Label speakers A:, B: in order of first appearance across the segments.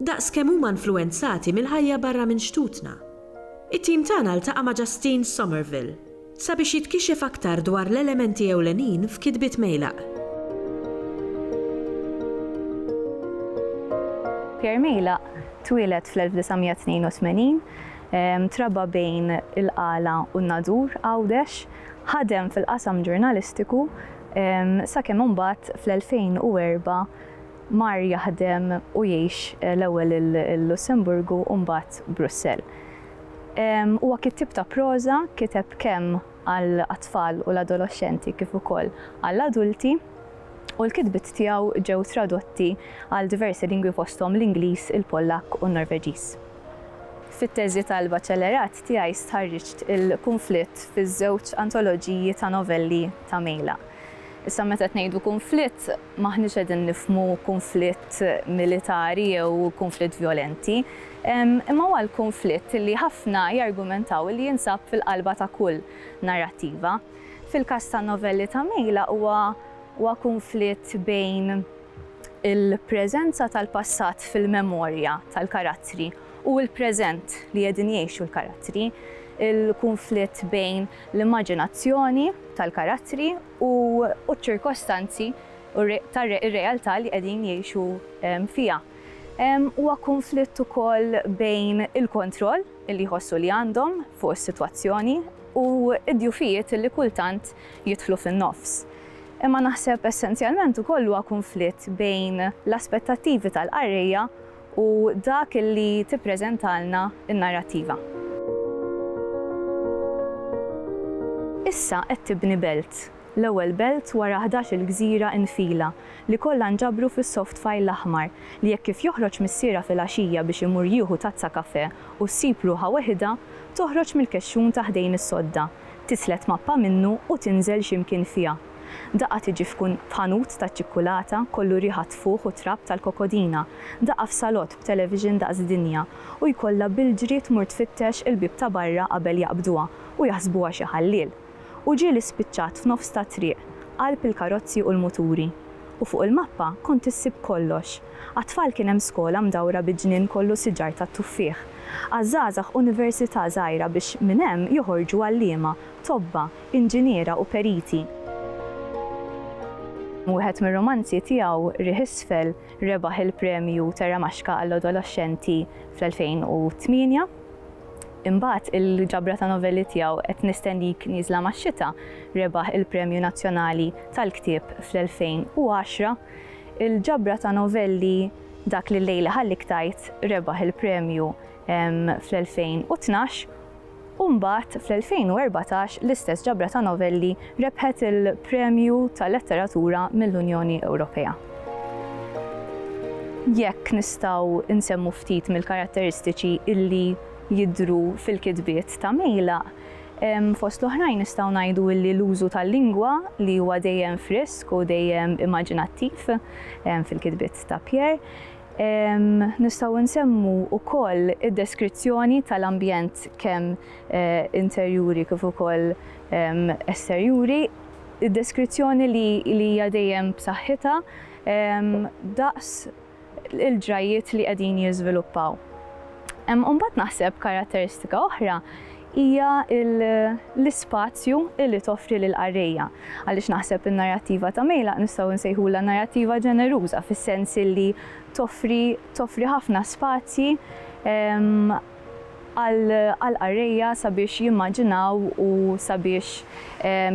A: daqs kemm huma influwenzati mill-ħajja barra minn xtutna. It-tim tagħna ltaqa' ma' Justine Somerville sabiex jitkixef aktar dwar l-elementi ewlenin f'kitbiet Meylaq.
B: Pierre Meylaq twieled fl-1982, trabba bejn il-Qala u n-Nadur, Għawdex. Ħadem fil-qasam ġurnalistiku sakemm imbagħad fl-2004 Mar jaħdem u jgħix l-ewwel il-Lussemburgu u mbagħad Brussell. Huwa kittieb ta' proża, kiteb kemm għal għat-tfal u l-adoloxxenti kif ukoll għal adulti, u l-kitbiet tiegħu ġew tradotti għal diversi lingwi fosthom l-Ingliż, il-Pollakk u n-Norveġiż. Fit-teżi tal-baċellerat tiegħi stħarriġt il-kunflitt fiż-żewġ antoloġiji ta' novelli ta' Mejla. Issa meta qed ngħidu kunflitt, M'aħniex qegħdin nifhmu kunflitt militari jew kunflitt vjolenti, imma huwa l-kunflitt li ħafna jargumentaw li jinsab fil-qalba ta' kull narrattiva. Fil-każ tan-novelli ta' Mejla huwa huwa kunflitt bejn il-preżenza tal-passat fil-memorja tal-karattri u l-preżent li qegħdin jgħixu l-karattri, il-kunflitt bejn l-immaġinazzjoni tal-karattri u ċ-ċirkostanzi u r-realtà li qegħdin jgħixu fiha. Huwa kunflitt ukoll bejn il-kontroll li jħossu li għandhom fuq is-sitwazzjoni u d-djufijiet li kultant jidħlu fin-nofs. Imma naħseb essenzjalment ukoll huwa kunflitt bejn l-aspettattivi tal-qarrejja u dak li tippreżentalna n-narrattiva. Issa qed tibni belt, l-ewwel belt wara ħdax-il gżira infila li kollha nġabru fis-soft file aħmar li hekk kif joħroġ missierha filgħaxija biex imur jieħu tazza kafè u ssib ruħha weħidha, toħroġ mill-kexxun ta' ħdejn is-sodda, tislet mappa minnu u tinżel xi mkien fiha. Daqqa tiġi f'ħanut taċ-ċikkulata kollu riħa tfuħ u trab tal-kokodina, daqqa f'salott b'television daqs dinja u jkollha bil-ġri tmur tfittex il-bieb ta' barra qabel jaqbduha u jaħsbuha xi ħalliel. U ġieli spiċċat f'nofs tat-triq, qalb il-karozzi u l-muturi. U fuq il-mappa kont issib kollox. Għat-tfal kien hemm skola mdawra bi ġnien kollu siġar tat-tuffieħ. Għaż-żgħażagħ università żgħira biex minn hemm joħorġu għalliema, tobba, inġiniera u periti. Wieħed mir-rumanzi tiegħu, Riħ Isfel, rebaħ il-Premju Terramaxka għall-Adoloxxenti fl-2008. Imbagħad il-ġabra ta' novelli tiegħu Qed Nistennik Nieżla Max-Xita rebaħ il-Premju Nazzjonali tal-Ktieb fl-2010. Il-ġabra ta' novelli Dak li llejli ħallik tgħid rebaħ il-premju fl-2012. u mbagħad fl-2014 l-istess ġabra ta' novelli rebħet il-Premju tal-Letteratura mill-Unjoni Ewropea. Jekk nistgħu nsemmu ftit mill-karatteristiċi li jidhru fil-kitbiet ta' Mejlaq, fost l-oħrajn nistgħu ngħidu li l-użu tal-lingwa li huwa dejjem frisk u dejjem immaġinattiv fil-kitbiet ta' Pierre, Nistgħu nsemmu wkoll id-deskrizzjoni tal-ambjent kemm interjuri kif ukoll esterjuri, id-deskrizzjoni li hija dejjem b'saħħitha daqs il-ġrajjiet li qegħdin jiżviluppaw. Imbagħad naħseb karatteristika oħra hija l-ispazju li toffri lill-qarrejja. Għaliex naħseb in-narrattiva ta' Mejlaq nistgħu nsejħulha narrattiva ġeneruża fis-sens illi toffri toffri ħafna spazji għall-qarrejja sabiex jimmaġinaw u sabiex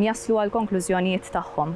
B: jaslu għall-konklużjonijiet tagħhom.